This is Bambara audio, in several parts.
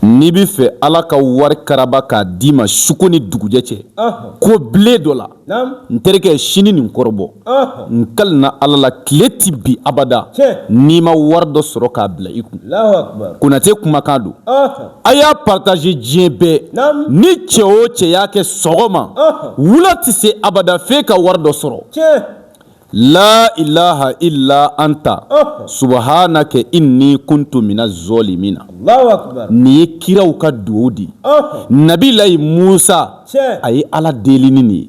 N'i bɛ fɛ ala ka wari karaba k'a d'i ma suko ni dugujɛ cɛ ko bilen dɔ la n terikɛ sini nin kɔrɔbɔ n kalina ala la tile tɛ bin abada n'i ma wari dɔ sɔrɔ k'a bila i kun konatɛ kumakan don a y'a partager diɲɛ bɛɛ ni cɛ o cɛ y'a kɛ sɔgɔma wula tɛ se abada f'e ka wari dɔ sɔrɔ la ilaha ila anta subhanaka ini kuntu mina zalimina nin ye kiraw ka dugawu di nabilayi musa a ye ala deli ni nin ye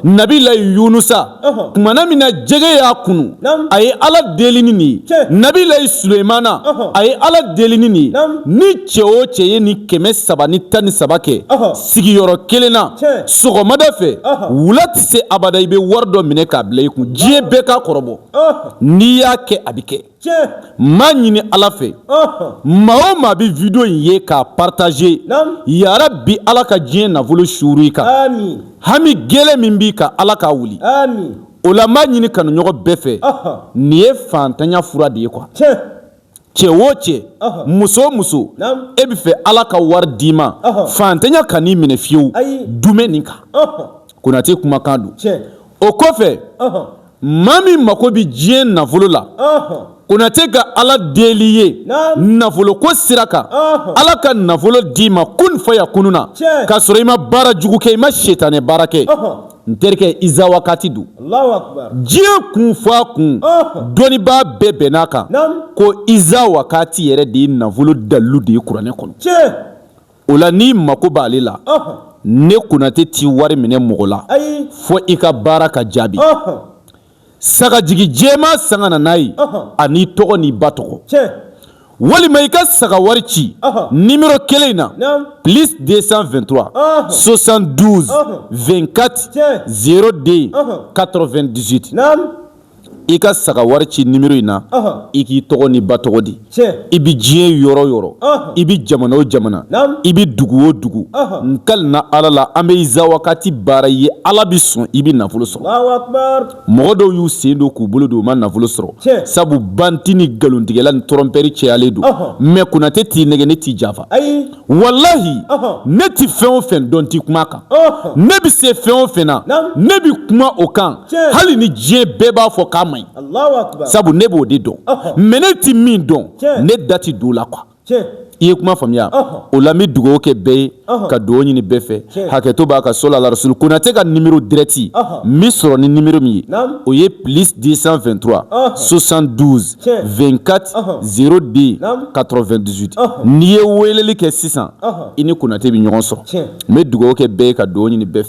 nabilayi yunusa tumana min na jɛgɛ y'a kunu a ye ala deli ni nin ye nabilayi sulemana a ye ala deli ni nin ye ni cɛ o cɛ ye nin kɛmɛ saba ni tan ni saba kɛ sigiyɔrɔ kelen na sɔgɔmada fɛ wula tɛ se abada i bɛ wari dɔ minɛ k'a bila i kun diɲɛ bɛɛ k'a kɔrɔbɔ n'i y'a kɛ a bɛ kɛ n b'a ɲini ala fɛ maa o maa bɛ video in ye k'a partager yarabi ala ka diɲɛ nafolo suuru i kan hami gɛlɛn min b'i kan ala k'a wuli o la n b'a ɲini kanuɲɔgɔn bɛɛ fɛ nin ye faantanya fura de ye quoi cɛ o cɛ muso o muso e bɛ fɛ ala ka wari d'i ma faantanya kan'i minɛ fiyewu dumɛ nin kan konatɛ kumakan don o kɔfɛ maa min mako bɛ diɲɛ nafolo la konatɛ ka ala deli ye nafolo ko sira kan ala ka nafolo d'i ma kun fayakun na ka sɔrɔ i ma baara jugu kɛ i ma sitanɛ baara kɛ n terikɛ iza wakati don diɲɛ kun fɔ a kun dɔnnibaa bɛɛ bɛnn'a kan ko iza wakati yɛrɛ de ye nafolo dalilu de ye kuranɛ kɔnɔ o la n'i mako b'ale la ne konatɛ tɛ wari minɛ mɔgɔ la fɔ i ka baara ka jaabi sagajigi jɛma san ka na n'a ye an'i tɔgɔ n'i ba tɔgɔ walima i ka saga wari ci nimero kelen in na plis 223 72 24 02 98 i ka saga wari ci nimero in na i k'i tɔgɔ n'i ba tɔgɔ di i bɛ diɲɛ yɔrɔ yɔrɔ i bɛ jamana o jamana i bɛ dugu o dugu n kalina ala la an bɛ iza wakati baara i ye ala bɛ sɔn i bɛ nafolo sɔrɔ mɔgɔ dɔw y'u sen don k'u bolo don u ma nafolo sɔrɔ sabu bandi ni nkalontigɛla ni tɔrɔnpɛri cayalen don mɛ konatɛ t'i nɛgɛn ne t'i janfa walahi ne tɛ fɛn o fɛn dɔn tɛ kuma kan ne bɛ se fɛn o fɛn na ne bɛ kuma o kan hali ni diɲɛ bɛɛ b'a fɔ k'a man ɲi sabu ne b'o de dɔn mɛ ne tɛ min dɔn ne da tɛ don o la quoi i ye kuma faamuya o la n bɛ dugawu kɛ bɛɛ ye ka dugawu ɲini bɛɛ fɛ hakɛto b'a ka solala rasulu konatɛ ka nimero dirɛti n bɛ sɔrɔ ni nimero min ye o ye plis 223 72 24 02 98 n'i ye weleli kɛ sisan i ni konatɛ bɛ ɲɔgɔn sɔrɔ n bɛ dugawu kɛ bɛɛ ye ka dɔ ɲini bɛɛ fɛ